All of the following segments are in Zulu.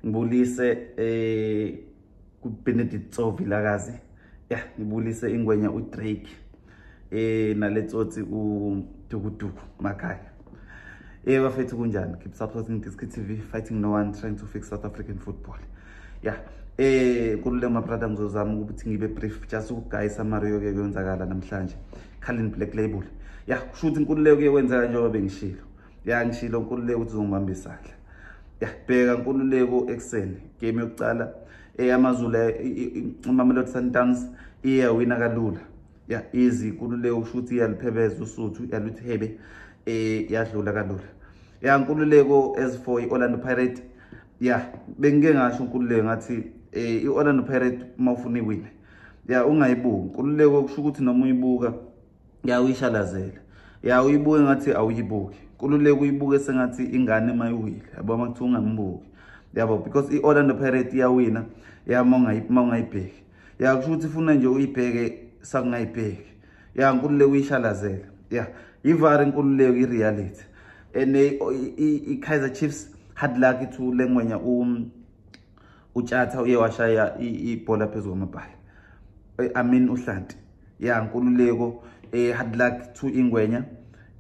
ngibulise eh kubenedict sovilakazi ya ngibulise ingwenya udrake eh naletsotsi udukuduku makhaya eh bafethu kunjani keep supporting diskit tv fighting no one trying to fix south african football ya yeah. eh kulule mabrada ngizozama ukuthi ngibe brief just ukugayisa Mario ke kuyenzakala namhlanje Calvin Black Label ya kusho ukuthi inkululeko kuye kwenzeka njengoba bengishilo ya ngishilo nkululeko ukuthi uzongibamba isandla ya bheka nkululeko ekuseni game yokucala eyamazulu imamelodi sundowns iyawina kalula ya izi nkululeko ukusho ukuthi iyaliphebeza usuthu yaluthi hebe um yadlula kalula ya nkululeko as for i-orlando pirate ya bengike ngasho nkululeko ngathi um i-orlando pirate uma ufuna iwine ya ungayibuki nkululeko kusho ukuthi noma uyibuka ya uyishalazela ya uyibuke ngathi awuyibuki kululeka uyibuke sengathi ingane uma iwile yabo uma kuthiwa ungambuki yabo because i-orlando pirate iyawina ya uma ungayibheki ya kusho ukuthi funa nje uyibheke sakungayibheki ya nkululeka uyishalazela ya yivar inkululeko i-reality and eh, i-kaizer chiefs hard lucky to lengwenya um, utshatha uye washaya ibhola phezu kwamabhala eh, i mean uhlanti ya nkululeko eh, hard luck to ingwenya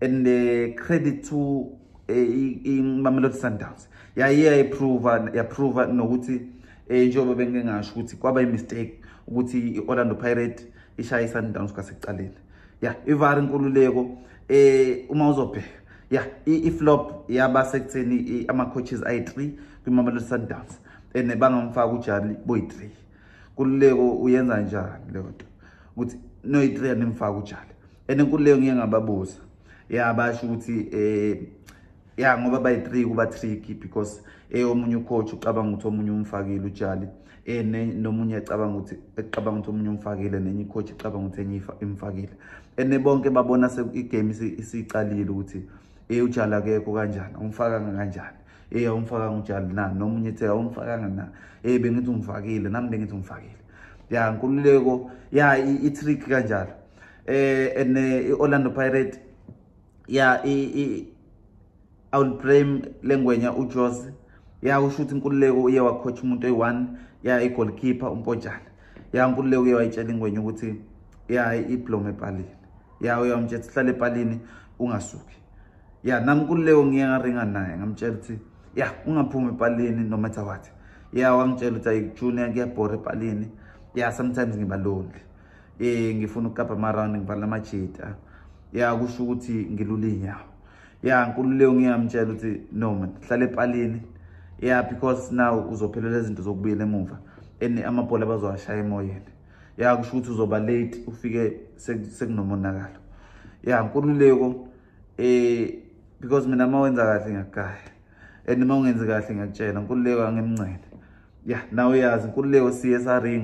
and uh, credit to imamelodi sundowns yaye yayiprova yaprova nokuthi um njengoba bengingasho ukuthi kwaba imistake ukuthi i-orlando pirate ishaye isundowns kwasekuqaleni ya ivari nkululeko um uma uzobheka ya iflop yaba sekutheni ama-coaches ayi-three kwimamelodi sundowns and bangamfaka ujali boyi-three kululeko uyenza njani leyo nto ukuthi noyi-three animfaka ujali and kululeko ngiye ngababuza ya basho ukuthi um eh, ya ngoba bayi-three kuba-tricky because eh, omunye ucoach ucabanga ukuthi omunye umfakile ujali eh, nomunye ecabanga ukuthi ecabanga ukuthi omunye umfakile nenye icoach icabanga ukuthi enye imfakile and bonke babona igame isiyiqalile ukuthi um ujali akekho kanjani umfaka kanjani eyi awumfakanga utshani na nomunye ethe awumfakanga na eyi bengithi ungifakile nami bengithi ungifakile ya nkululeko ya i-trick kanjalo eh and eh, i-orlando pirate ya awulibrame lengwenya ujose ya usho ukuthi inkululeko uye wakhotha umuntu oyi-one ya igolkeeper umpontshana ya nkululeko uye wayitshela ingwenya ukuthi ya iblome epalini ya uyawumtshela ukuthi hlale epalini ungasuki ya nami kuleyo ngiye ngaringa naye ngamtshela ukuthi ya ungaphumi epalini no matter what ya wangitshela ukuthi ayikujunior kuyabhora epalini ya sometimes ngiba lonely eh ngifuna ukukapa amaround ngibhala amajita ya kusho ukuthi ngilula iy'nyawo ya nkululeko ngingamtshela ukuthi no man hlala epalini ya because now uzophelela izinto zokubuyela emuva and amabhola abazowashaya emoyeni ya kusho ukuthi uzoba late ufike sekunomonakalo ya nkululeko eh because mina uma wenza kahle ngiyakugaya and uma ungenzi kahle ngiyakutshela nkululeko angemncele ya nawe uyazi nkululeko siye saringa